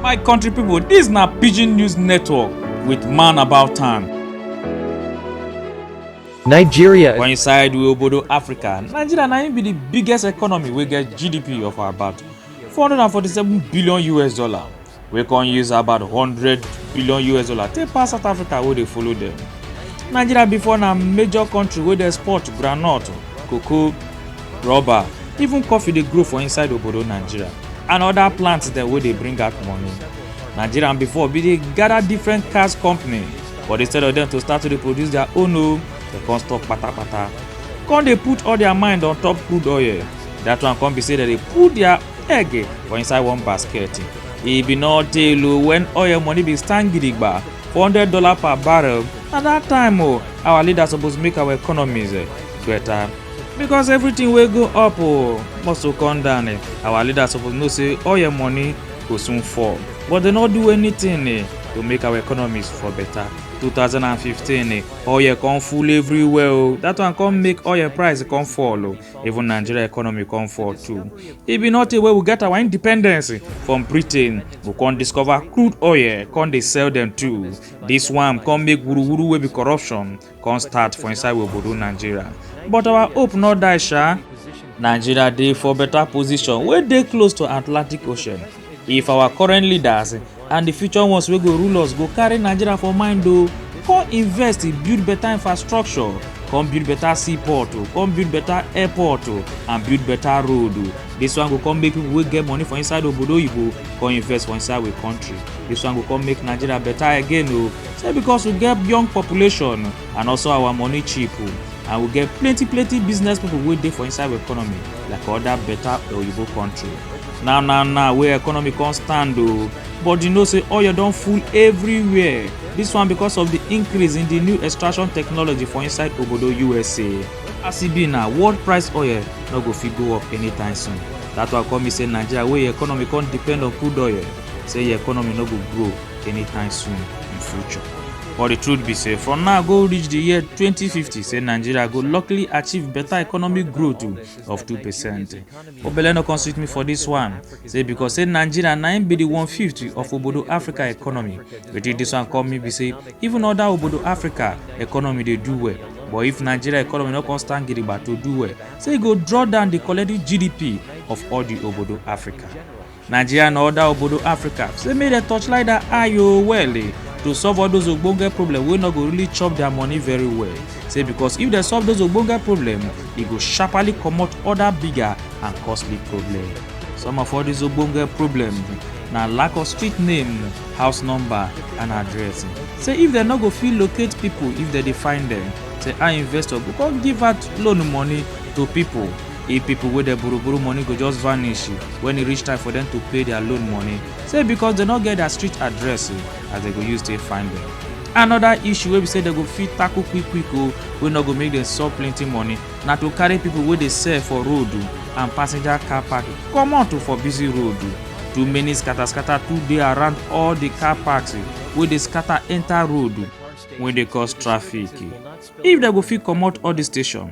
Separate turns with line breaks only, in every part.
My country people, this na Pidgin News Network with Man About Town. Nigeria For inside we obodo Africa, Nigeria na im be the biggest economy wey get GDP of about 447 billion US dollar, wey come use about 100 billion US dollar take pass South Africa wey dey follow dem. Nigeria before na major country wey dey export groundnut, cocoa, rubber even coffee dey grow for inside obodo nigeria and other plants dem wey dey bring out money nigerian before bin dey gather different cars company but instead of dem to start to dey produce their own o dem come stop patapata come dey put all their mind on top crude oil that one come be say dem dey put their egg for inside one basket e bin no tey o when oil money bin stand gidigba four hundred dollar per barrel na that time o our leaders suppose make our economies better. because everything wey go up oh, must go come down eh. our leaders suppose know say all your money go soon fall but they no do anything eh, to make our economies for better 2015 eh, oil come full everywhere oh. that one come make oil price come fall oh. even nigeria economy come fall too e be not a way we get our independence eh, from britain we come discover crude oil come dey sell them too this one come make wuruwuru wey be corruption come start for inside we obodo nigeria but our hope no die sha nigeria dey for better position wey dey close to atlantic ocean if our current leaders and the future ones wey go rule us go carry nigeria for mind o come invest in build better infrastructure come build better seaport o come build better airport o and build better road o this one go come make people wey get money for inside obodo oyibo come invest for inside we country this one go come make nigeria better again o say because we get young population and also our money cheap and we get plenty plenty business people wey dey for inside our economy like other better oyibo country now now now wey economy come stand o but you know say oil don full everywhere this one because of the increase in the new extraction technology for inside obodo usa as e be now world price oil no go fit go up anytime soon that one come mean say nigeria wey economy come depend on crude oil say your economy no go grow anytime soon in future. But the truth be say, from now go reach the year 2050, say Nigeria go luckily achieve better economic growth too of 2%. Obele no come sweet me for this one, say because say Nigeria na im be the one fifth of obodo Africa economy. Wetin this one come me be say, even other obodo Africa economy dey do well. But if Nigeria economy no come stand gidigba to do well, say e go draw down the collective GDP of all the obodo Africa. nigeria and oda obodo africa say make dem torchlight dat eye o well eh to solve all those ogbonge problem wey no go really chop their money very well say because if dem solve those ogbonge problem e go sharparly comot other bigger and costly problem some of all these ogbonge problem na lack of street name house number and address say if dem no go fit locate people if dem dey find them say i investor go come give out loan money to people if people wey dey borrow borrow money go just vanish when e reach time for them to pay their loan money say because they no get their street address as they go use take find them another issue wey be say they go fit tackle quick quick o wey no go make them solve plenty money na to carry people wey dey sell for road and passenger car park comot for busy road too many scatter scatter too dey around all the car parks wey dey scatter enter road wey dey cause traffic if dem go fit comot all the station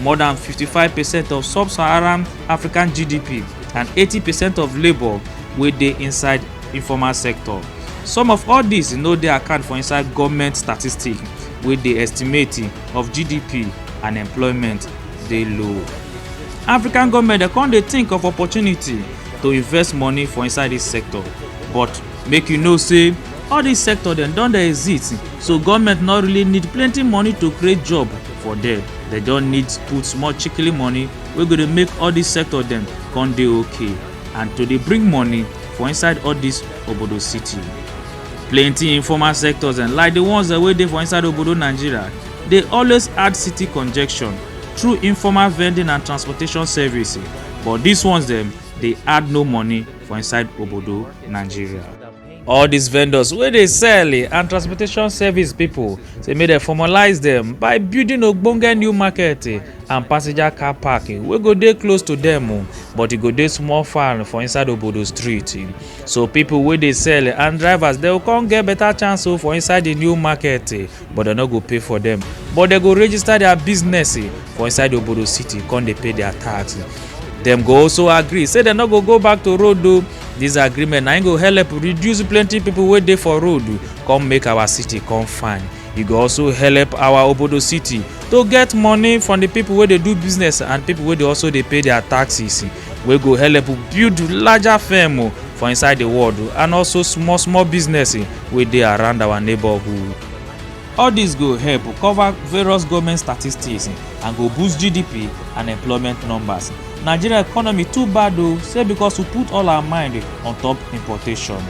More than 55 percent of sub-Saharan African GDP and 80 percent of labour wey dey inside informal sector. Some of all dis no dey account for inside goment statistic wey dey estimate of GDP and employment dey low. African goment dey come dey think of opportunity to invest money for inside dis sector but make you know say all dis sector dem don dey exist so goment no really need plenty money to create job for there dem just need put small chikili money wey go dey make all dis sector dem come dey okay and to dey bring money for inside all dis obodo city plenty informal sectors dem like the ones dem wey dey for inside obodo nigeria dey always add city congestion through informal vending and transportation service but dis ones dem dey add no money for inside obodo nigeria all these vendors wey dey sell eh, and transportation service people say make dem formalize dem by building ogbonge new market eh, and passenger car park eh, wey go dey close to dem o oh, but e go dey small far for inside obodo street so people wey dey sell and drivers dem go come get better chance o oh, for inside the new market but dem no go pay for dem but dem go register their business for inside obodo city come dey pay their tax dem go also agree say dem no go go back to road o oh, dis agreement na im go help reduce plenty pipo wey dey for road come make our city come fine e go also help our obodo city to get money from di pipo wey dey do business and pipo wey dey also dey pay dia taxes wey go help build larger firm for inside di world and also small small business wey dey around our neighbourhood All dis go help cover various goment statistics and go boost GDP and employment numbers. Nigeria economy too bad o say because we put all our mind on top importation.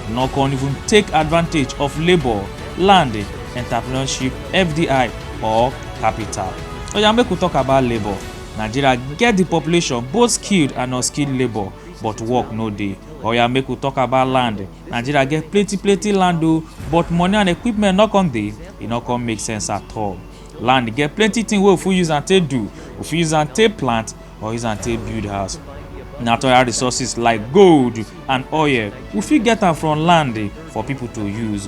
No con even take advantage of labour, land, entrepreneurship, FDI or capital. Oya make we talk about labour. Nigeria get di population both skilled and unskilled labour but work no dey. Oya make we talk about land. Nigeria get plenty plenty land o but money and equipment no come dey, e no come make sense at all. Land get plenty thing wey we fit use am take do, we fit use am take plant or use am take build house. Natural resources like gold and oil, we fit get am from land for people to use.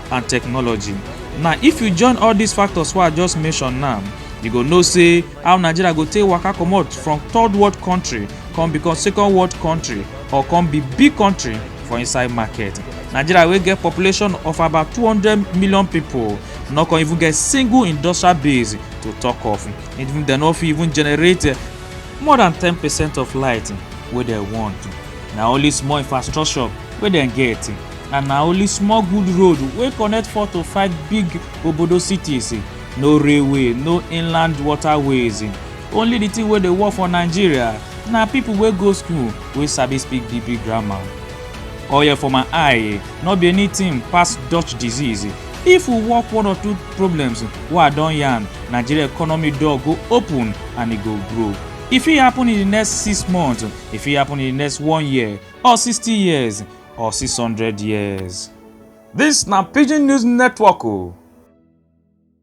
and technology. Now, if you join all these factors wey I just mention now, you go know say how Nigeria go take waka comot from third world country come become second world country or come be big country for inside market. Nigeria wey get population of about 200 million people no come even get single industrial base to talk of. Even dem no fit even generate more than 10 percent of light wey dem want. Na only small infrastructure wey dem get and na only small good road wey connect four to five big obodo cities no railway no inland waterways only the thing wey dey work for nigeria na people wey go school wey sabi speak the big grammar oil for my eye no be anything pass dutch disease if we work one or two problems wey i don yarn nigeria economy door go open and e go grow e fit happen in the next six months e fit happen in the next one year or sixty years or 600 years. Dis na Pidgin News Network o.